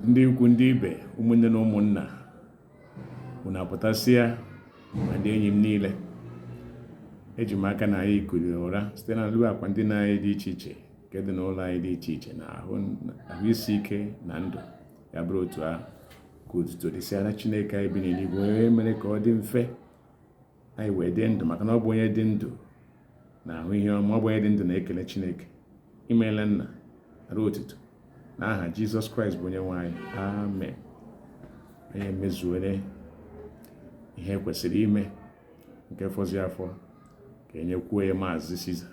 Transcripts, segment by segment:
ndị ikwu ndị ibe ụmụnne na ụmụnna unu apụtasịa ma ndị enyi m niile eji m aka na anyị kuliri ụra site n'elu akwa ndina anyị dị iche iche nke dị n'ụlọ anyị dị iche iche na ahụ isi ike na ndụ ya bụrụ otu ahụ ka otuto dịsịara Chineke anyị bi n'eluigwe onye mere ka ọ dị mfe anyị wee dị ndụ maka na ọ bụ onye dị ndụ na-ahụ ihe ọma ọ bụ onye dị ndụ na-ekele Chineke imeela nara otuto n'aha Jizọs Kraịst bụ onye nwe anyị amen onye mezuere ihe e kwesịrị ime nke fọzi afọ ka e nyekwuo ya maazị Siza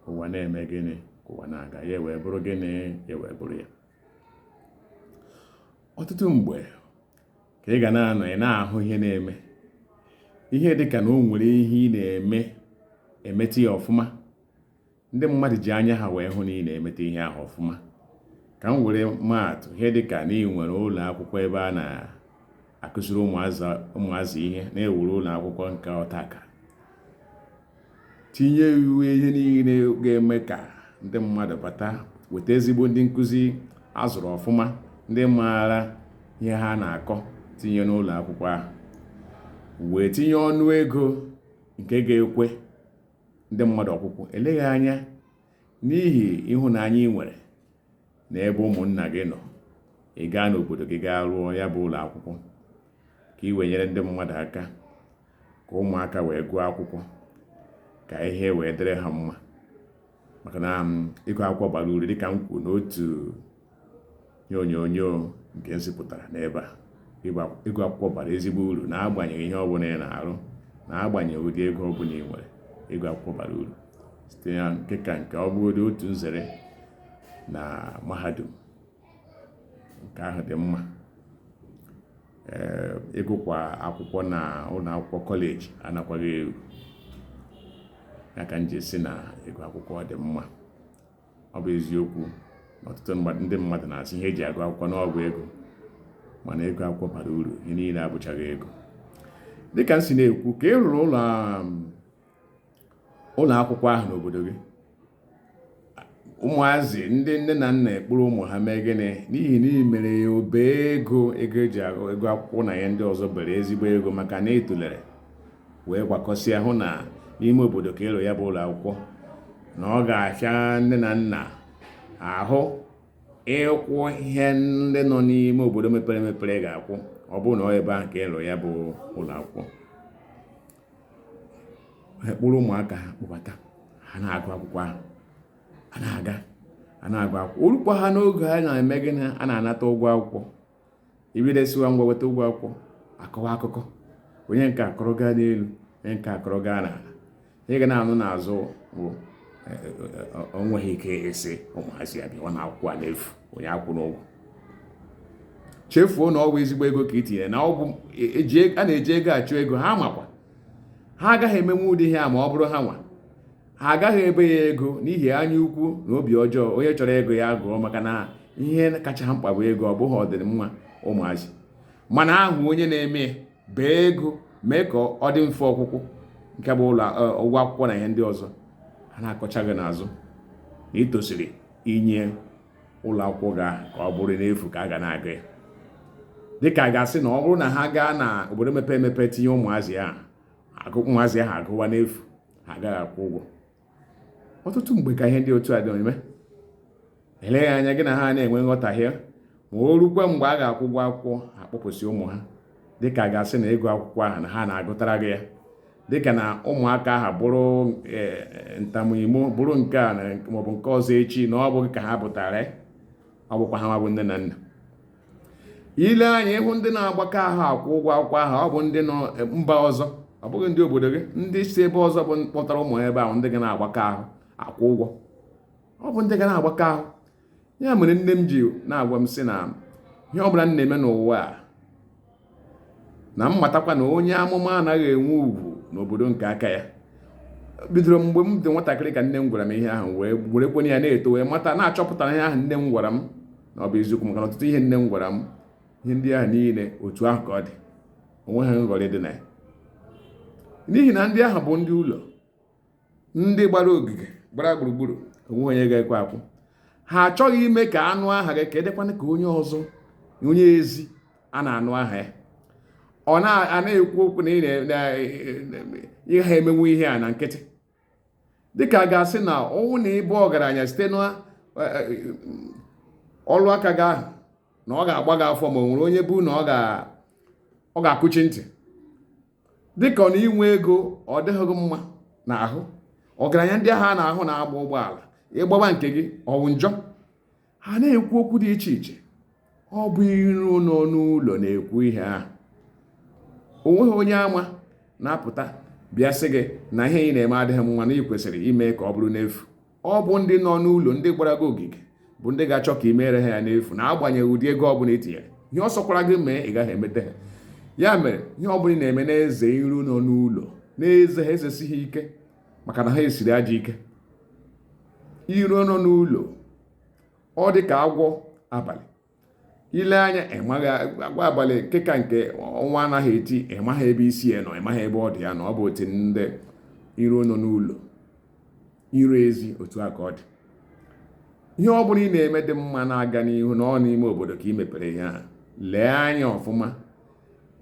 ụwa na-eme gịnị ka ụwa na-aga ya wee bụrụ gịnị ya wee bụrụ ya ọtụtụ mgbe ka ị ga na-anọ ị na-ahụ ihe na-eme ihe dị ka na o nwere ihe ị na-eme emeta ya ọfụma ndị mmadụ ji anya ha wee hụ na ị na-emete ihe ahụ ọfụma ka m were maa atụ ihe dị ka na ị nwere ụlọ akwụkwọ ebe a na-akụziri ụmụazị ihe na e wuru ụlọ akwụkwọ nke ọtaka tinye iwu ihe niile ga-eme ka ndị mmadụ bata weta ezigbo ndị nkụzi a zụrụ ọfụma ndị maara ihe ha na-akọ tinye n'ụlọ akwụkwọ ahụ wee tinye ọnụ ego nke ga-ekwe ndị mmadụ ọkwụkwụ eleghị anya n'ihi ịhụnanya ị nwere na ebe ụmụnna gị nọ ị gaa n'obodo gị gaa rụọ ya bụ ụlọ akwụkwọ ka ị wee nyere ndị mmadụ aka ka ụmụaka wee gụọ akwụkwọ ka ihe wee dịrị ha mma maka na um, ịgụ akwụkwọ bara uru dịka m kwuru n'otu ihe onyonyo nke m zipụtara n'ebe a ịgụ akwụkwọ bara ezigbo uru n'agbanyeghị ihe ọbụla ị na-arụ n'agbanyeghị ụdị ego ọbụla ị nwere ịgụ akwụkwọ bara uru site na nke ka nke ọ bụgodị otu nzere na mahadum nke ahụ dị mma ee ịgụkwa akwụkwọ na ụlọ akwụkwọ kọleji anakwaghị ekwu ya ka m ji sị na ịgụ akwụkwọ dị mma ọ bụ eziokwu na ọtụtụ ndị mmadụ na-asị ihe e ji agụ akwụkwọ na ọ bụ ego mana ịgụ akwụkwọ bara uru ihe niile abụchaghị ego dịka m si na-ekwu ka ị rụrụ ụlọ um, ụlọ akwụkwọ ahụ n'obodo gị ụmụazị ndị nne na nna ekpuru ụmụ ha mee gịnị n'ihi na i mere ya obere ego ego e ji agụ akwụkwọ na ya ndị ọzọ bere ezigbo ego maka na i tulere wee gbakọsịa hụ na n'ime obodo ka ị rụ ya bụ ụlọ akwụkwọ na ọ ga-ahịa nne na nna ahụ ịkwụ ihe ndị nọ n'ime obodo mepere emepere ga-akwụ ọ bụrụ na ọ ebe ahụ ka ị rụ ya bụ ụlọ akwụkwọ ekpụrụ ụmụaka ha kpụbata ha na-agụ akwụkwọ ahụ a na-aga a na-agụ akwụkwọ o rukwa ha n'oge a na-eme gịnị a na-anata ụgwọ akwụkwọ i bido sịwa ngwa weta ụgwọ akwụkwọ a kọwa akụkọ onye nke a kọrọ gaa n'elu onye nke a kọrọ gaa n'ala ihe ị ga na-anụ n'azụ bụ e, e, e, o nweghị ike ịsị ụmụazị a bịawa na akwụkwọ a n'efu onye akwụna ụgwọ chefuo na ọ bụ ezigbo ego ka i tinyere na ọ bụ a na-eji ego achụ ego ha makwa ha agaghị emenwu ụdị ihe a ma ọ bụrụ ha nwa ha agaghị ebe ya ego n'ihi anya ukwu na obi ọjọọ onye chọrọ ịgụ ya gụọ maka na ihe kacha ha mkpa bụ ego ọ bụghị ọdịmma ụmụazị mana a hụ onye na-eme bee ego mee ka ọ dị mfe ọkwụkwụ nke bụ ụlọ e, ụgwọ akwụkwọ na ihe ndị ọzọ a na-akọcha gị n'azụ na i tosiri inye ụlọ akwụkwọ gị a ka ọ bụrụ n'efu ka a ga na-agụ ya dịka a ga-asị na ọ bụrụ na ha gaa na obodo mepere emepe tinye ụmụazị ahụ agụ ụmụazị ahụ agụwa n'efu ha agaghị akwụ ụgwọ ọtụtụ mgbe ka ihe ndị otu a dị eme eleghị anya gị na ha na-enwe nghọtahie ma o rukwa mgbe a ga-akwụ ụgwọ akwụkwọ a kpọpụsị ụmụ ha dịka a ga-asị na ịgụ akwụkwọ ahụ na ha na-agụtara gị ya dịka na ụmụaka ahụ bụrụ e, e, ntamuimo bụrụ nke a maọbụ nke ọzọ echi na ọ bụ gị ka ha bụtara ọ bụkwa ha nwa bụ nne na nna i lee anya ị hụ ndị na-agbakọ ahụ akwụ ụgwọ akwụkwọ ahụ ọ bụ ndị nọ eh, mba ọzọ ọ bụghị ndị obodo gị ndị si ebe ọzọ bụ kpọtara ụmụ ha ebe ahụ ndị ga na-agbakọ ahụ akwụ ụgwọ ọ bụ ndị ga na-agbakọ ahụ ya mere nne m ji na-agwa m sị na ihe ọ bụla m na-eme n'ụwa a na m matakwa na onye amụma anaghị enwe ugwu n'obodo nke aka ya bidoro mgbe m dị nwatakịrị ka nne m gwara m ihe ahụ wee werekwanụ ya na-eto wee mata na-achọpụtara ihe ahụ nne m gwara m na ọ bụ eziokwu maka na ọtụtụ ihe nne m gwara m ihe ndị ahụ niile otu ahụ ka ọ dị o nweghị nghọrị dị na ya n'ihi na ndị ahụ bụ ndị ụlọ ndị gbara ogige gbara gburugburu o nweghị onye ga-ekwe akwụ ha achọghị ime ka a nụ aha gị ka ọ dịkwanụ ka onye ọzọ onye ezi a na-anụ aha ya ọ na-ekwu okwu na ị gaghị emenwu ihe a na nkịtị dịka a ga-asị na ọ wụ na ị bụ ọgaranya site na e, e, ọlụ aka gị ahụ na ọ ga-agba gị afọ ma o nwere onye bụ na ọ ga-akụchi ntị dịka ọ na inwe ego ọ dịghị gị mma n'ahụ ọgaranya ndị ahụ a na-ahụ na-agba ụgbọala ịgbaba nke gị ọwụ njọ ha na-ekwu okwu dị iche iche ọ bụ iro nọ n'ụlọ na-ekwu ihe ahụ o nweghị onye ama na-apụta bịa sị gị na ihe ị na-eme adịghị mma na ị kwesịrị ime ka ọ bụrụ n'efu ọ bụ ndị nọ n'ụlọ ndị gbara gị ogige bụ ndị ga-achọ ka ị meere ha ya n'efu n'agbanyeghị ụdị ego ọbụla i tinyere ihe ọ sọkwara gị mee ị gaghị emete ha ya mere ihe ọbụla ị na-eme na-eze iro nọ n'ụlọ na-eze ha ezesi ha ike maka na ha esiri ajọ ike iro nọ n'ụlọ ọ dị ka agwọ abalị i lee anya ịmaghị agwọ abalị nke ka nke ọnwa anaghị eti ịmaghị ebe isi ya nọ ịmaghị ebe ọdụ ya nọ ọ bụ otu ndị iro nọ n'ụlọ iro ezi otu a ka ọ dị ihe ọ bụla ị na-eme dị mma na-aga n'ihu na ọ n'ime obodo ka ị mepere ihe a lee anya ọfụma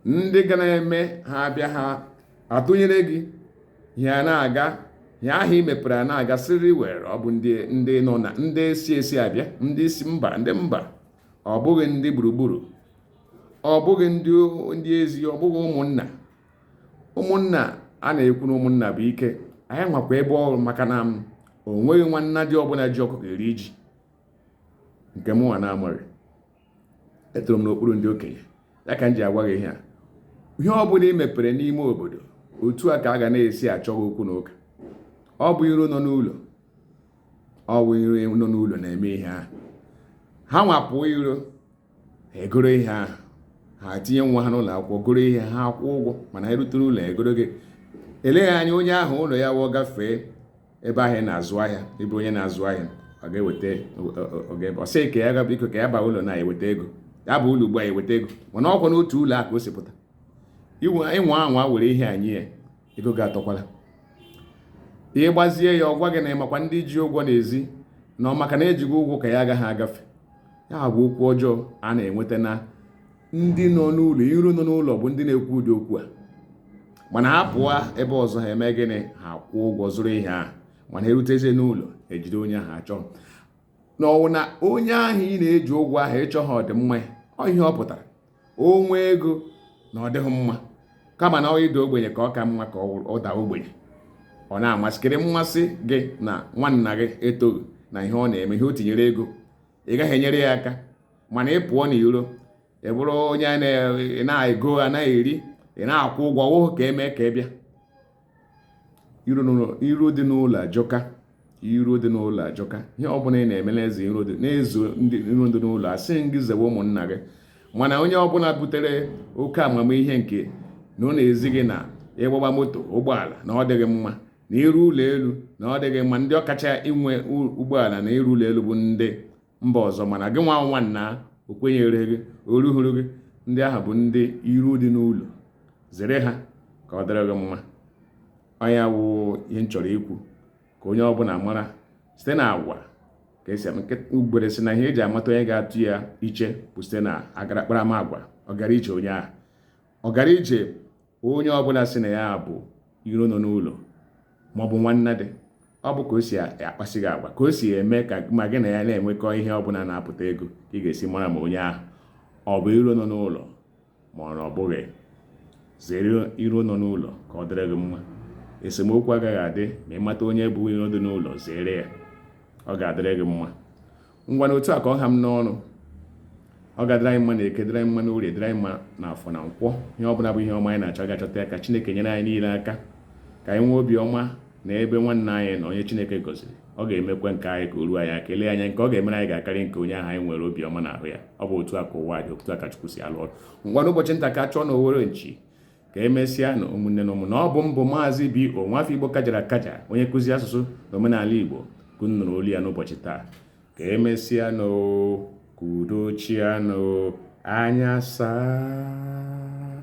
ndị ga na-eme ha abịa ha atụnyere gị ya na-aga ihe ahụ i mepere a na-aga sịrị were ọ bụ ndị ndị nọ na ndị si esi abịa ndị si mba ndị mba ọ bụghị ndị gburugburu ọ bụghị ndị ndị ezi ọ bụghị ụmụnna ụmụnna a na-ekwu na ụmụnna bụ ike anyị nwakwa ebe ọrụ maka na m o nweghị nwannadi ọbụla ji ọkụkọ eri ji nke mụnwa na-amaghị etoro m n'okpuru ndị okenye ya ka m ji agwa gị ihe a ihe ọ bụla ị mepere n'ime obodo otu a ka a ga na-esi achọ gị okwu na ụka ọ bụ iro nọ n'ụlọ ọ bụ iro nọ n'ụlọ na-eme ihe ahụ ha nwa pụọ iro ha egoro ihe ahụ ha tinye nwa ha n'ụlọ akwụkwọ goro ihe ha akwụ ụgwọ mana ha erute n'ụlọ egoro gị eleghị anya onye ahụ ụlọ ya wụọ gafee ebe ahụ ị na-azụ ahịa ị bụ onye na-azụ ahịa ọ ga-eweta oge ọ sị ka ya ga biko ka ya baa ụlọ na-eweta ego ya baa ụlọ ugbu a eweta ego mana ọkwa n'otu ụlọ a ka o si pụta ị nwaa anwa were ihe a nye ya ego gị atọkwala ị gwazie ya ọ gwa gị na ịmakwa ndị ji ụgwọ n'ezi na ọ maka na eji gị ụgwọ ka ya agaghị agafe ya bụ okwu ọjọọ a na-enweta na ndị nọ n'ụlọ iro nọ n'ụlọ bụ ndị na-ekwu ụdị okwu a mana ha pụọ ebe ọzọ ha eme gịnị ha kwụọ ụgwọ zụrụ ihe ahụ mana erutezi n'ụlọ ejide onye ahụ achọ na ọwụ na onye ahụ ị na-eji ụgwọ ahụ ị chọghị ọdịmma ọ ihe ọ pụtara o nwee ego na ọ dịghị mma kama na ịda ogbenye ka ọ ka mma ka ọ daa ogbenye ọ na-amasịkịrị mmasị gị na nwanna gị etoghị na ihe ọ na-eme ihe o tinyere ego ị gaghị enyere ya aka mana ị pụọ n'iro ị bụrụ onye na-ego a na-eri ị na-akwụ ụgwọ wụhụ ka e mee ka ị bịa iro dị n'ụlọ ajọka iro dị n'ụlọ ajọka ihe ọ bụla ị na-eme na-eze iro dị na-eze ndị iro dị n'ụlọ asịghị m gị zewe ụmụnna gị mana onye ọbụla butere oke amamihe nke na ọ na-ezi gị na ịgbagba moto ụgbọala na ọ dịghị mma na ịrụ ụlọ elu na ọ dịghị mma ndị ọkacha inwe ụgbọala na ịrụ ụlọ elu bụ ndị mba ọzọ mana gịnwa nwanna o kwenyere gị o ruhuru gị ndị ahụ bụ ndị iro dị n'ụlọ zere ha ka ọ dịrị gị mma ọ ya wụ ihe m chọrọ ikwu ka onye ọbụla mara site na agwa ka e si ugbere sị na ihe e ji amata onye ga-atụ ya iche bụ site na akparamagwa ọgara ije onye ahụ ọgara ije onye ọbụla sị na ya bụ iro nọ n'ụlọ maọbụ nwanna dị ọ bụ ka o si akpasị gị agwa ka o si eme ka ma gị na ya na-enwekọ ihe ọbụla na-apụta ego ka ị ga-esi mara ma onye ahụ ọ bụ iro nọ n'ụlọ ma ọ na ọ bụghị zere iro nọ n'ụlọ ka ọ dịrị gị mma esemokwu agaghị adị ma ị mata onye bụ iro dị n'ụlọ zere ya ọ ga-adịrị gị mma ngwanụ otu a ka ọ ha m n'ọnụ ọ ga-adịrị anyị mma na eke dịrị anyị mma na orie dịrị anyị mma na afọ na nkwọ ihe ọ bụla bụ ihe ọma anyị na-achọ ga-achọta ya ka chineke nyere anyị niile aka ka anyị nwee obi ọma na ebe nwanna anyị nọ onye chineke gọziri ọ ga-emekwa nke anyị ka o ruo anyị aka eleghị anya nke ọ ga-emere anyị ga-akarị nke onye ahụ anyị nwere obi ọma na ahụ ya ọ bụ otu a ka ụwa dị otu a ka chukwu si alụ ọrụ ngwanụ ụbọchị nta ka a chụọ na owere nchi ka emesịanụ ụmụnne na ụmụnna ọ bụ m bụ maazị b o nwafọ igbo kajara akaja onye nkụzi asụsụ na omenala igbo ka unu nụrụ olu ya n'ụbọchị taa ka emesịanụ ka udo chịanụ anya saa